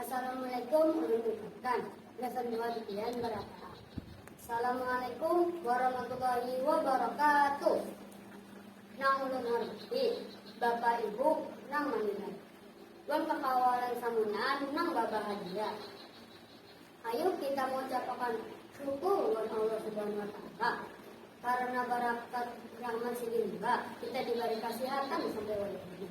Assalamualaikum ulun ucapkan gasan dua titian barapa. Assalamualaikum warahmatullahi wabarakatuh. Nang ulun hormati bapa ibu nang maninggal. Wan kakawalan samunaan nang babahagia. Ayo kita mengucapkan syukur wan Allah Subhanahu wa taala karena barakat rahmat sidin kita diberi kesehatan sampai wajib.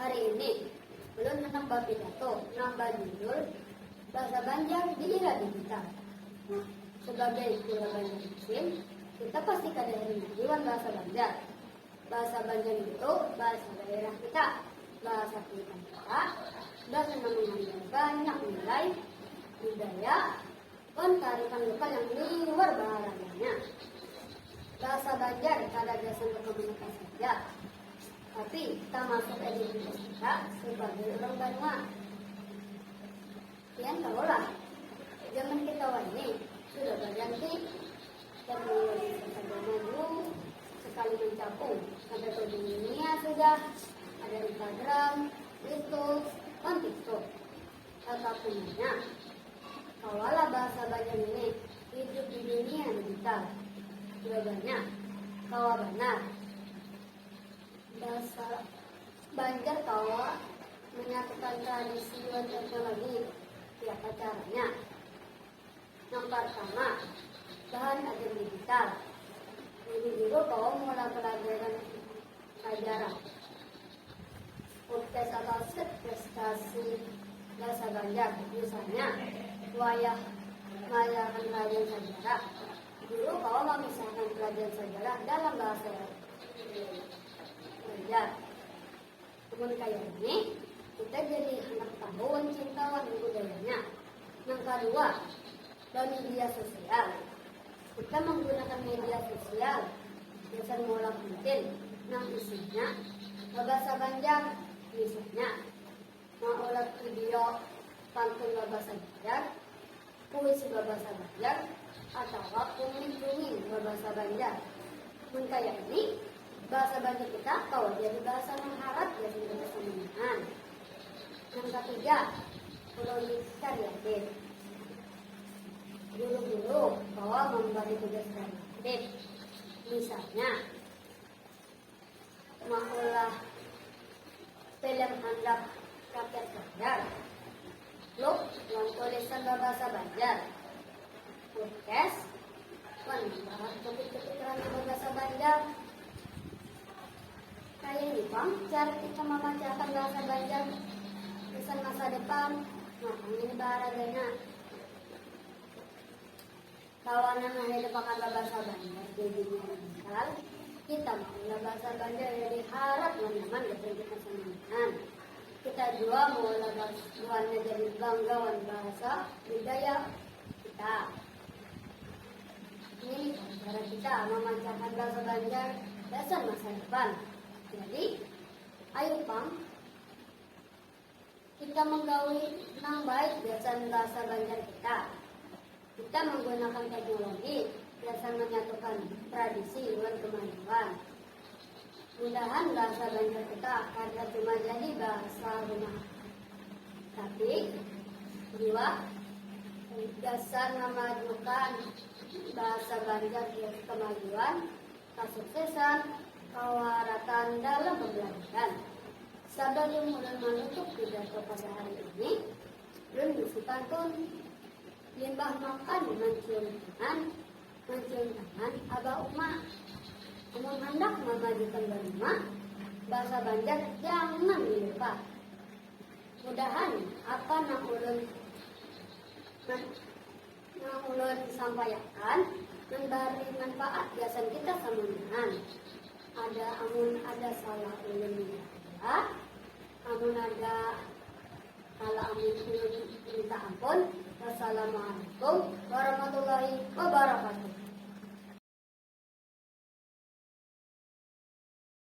Hari ini, ulun handak bapidato nang bajudul Bahasa Banjar di Era Digital. Sebagai pura Banjar Muslim, kita pasti kada rindu wan bahasa Banjar. Bahasa Banjar itu bahasa daerah kita, bahasa kulitan kita, bahasa nang mengandung banyak nilai, budaya, wan kearifan lokal yang liwar baharaganya. Bahasa Banjar kada gasan berkomunikasi saja, Tapi, tamasuk ai diri kita kita sebagai urang banua. Pian tahulah, zaman kita wahini sudah berganti teknologi sudah maju sekali mencapung sampai ke dunia sudah ada Instagram, Facebook, dan TikTok. Tetapi ya, kawalah bahasa banyak ini hidup di dunia digital. Jawabannya, kawa benar. Dasar Banjar kawa menyatukan tradisi wan teknologi. Kayapa caranya? Nang partama, bahan ajar digital. Jadi guru kawa maulah pelajaran ajaran podcast atau prestasi bahasa Banjar misalnya wayah mayakan kajian sejarah. Guru kawa mamisahkan pelajaran sajarah dalam bahasa Banjar. Mun kaya ini, kita jadi handak tahu wan cinta wan budayanya. Nang kadua, bamedia sosial. Kita menggunakan media sosial gasan maulah konten nang isinya babasa Banjar misalnya Maulah video pantun babasa Banjar, puisi babasa Banjar, atawa kumis dunging babasa Banjar. Mun kaya ini, bahasa Banjar kita kawa jadi bahasa nang harat gasan kita samunyaan. Nang katiga, Ulun yakin guru-guru kawa mambari tugas kreatif. Misalnya, Maulah film handak rakyat banjar. Blog wan tulisan berbahasa Banjar. Podcast wan membahas topik-topik ranah berbahasa Banjar. Kaya ini bang, cara kita memacakan bahasa Banjar pesan masa depan, nah ini bahara Kawanan hanya tepakan babasa Banjar jadinya menyesal. Kita mau babasa Banjar jadi harap nyaman betul kita sendirian. Kita jua mau buannya jadi bangga wan bahasa budaya kita. Ini cara kita memancarkan bahasa Banjar dasar masa depan. Jadi, ayo pang Kita menggawi nang baik gasan bahasa Banjar kita. Kita menggunakan teknologi gasan menyatukan tradisi wan kemajuan. Mudahan bahasa Banjar kita kada cuma jadi bahasa rumah, tapi jua gasan memajukan bahasa Banjar kemajuan Kasuksesan kawa rataan dalam pambelajaran. Sabalum ulun manutup pidato pada hari ini, ulun bisi pantun. Limbah makan mancium tangan, mancium tangan abah uma. Amun handak mamajukan baruma, bahasa Banjar jangan dilupa. Mudahan apa nang ulun Nang ulun sampaiakan mambari manfaat gasan kita samunyaan. Ada amun ada salah ulun minta amun ada salah amun ulun minta ampun. Wassalamualaikum warahmatullahi wabarakatuh.